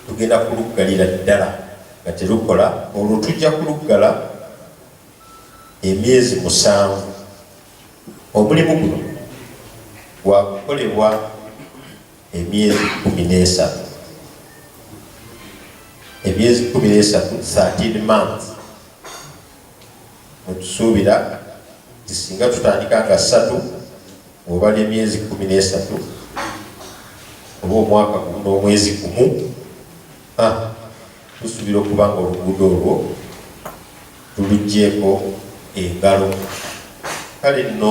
tugenda kuluggalira ddala nga terukola olwo tujja kuluggala emyezi musanvu omulimu guno gwakukolebwa emyezi kumi n'esatu emyezi kumi n'esatu 13 month mutusuubira tisinga tutandika nga satu Obala emyezi kkumi n'esatu oba omwaka gumu n'omwezi gumu, tusuubira okuba nga oluguudo olwo tuluggyeko engalo. Kale nno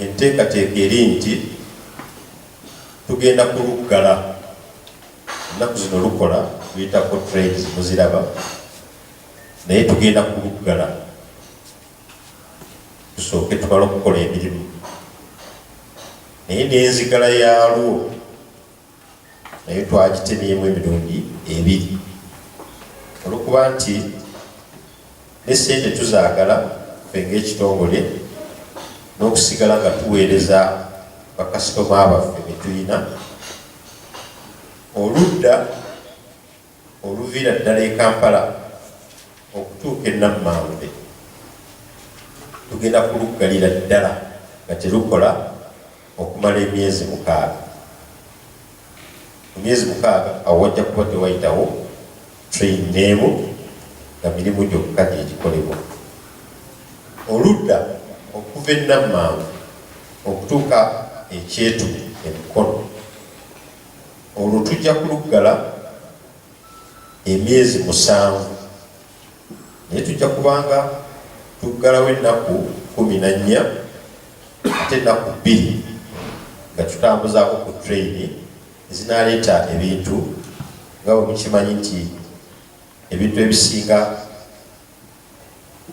enteekateeka eri nti tugenda kuluggala. Ennaku zino lukola luyitako trades muziraba naye tugenda kuluggala. tusooke tubale okukola emirimu naye n'enzigala yaalwo naye twagitemyemu emirundi ebiri olwokuba nti ne sente tuzaagala fe ngaekitongole n'okusigala nga tuweereza bakasitoma baffe betulina oludda Oluviira ddala e Kampala okutuuka e Nammambe tugenda kuluggalira ddala nga terukola okumala emyezi mukaaga. Mu myezi mukaaga awo wajja kuba tewayitawo train n'emu nga mirimu gyokka gye gikolebwa. Oludda okuva e Nammambe okutuuka e Kyetume e Mukono. Olwo tujja kuluggala emyezi musanvu, naye tujja kubanga tuggalawo ennaku kumi na nnya ate ennaku bbiri nga tutambuzaako ku treyini ezinaaleeta ebintu nga bwe mukimanyi nti ebintu ebisinga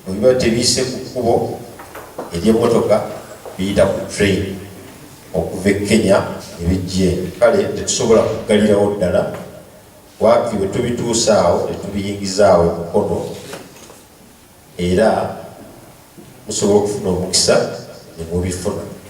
Bwe biba tebiyise ku kkubo ery'emmotoka, biyita ku train okuva e Kenya ne bijja eno. Kale tetusobola kuggalirawo ddala, waakiri bwe tubituusa awo ne tubiyingiza awo e Mukono era musobola okufuna omukisa ne mubifuna.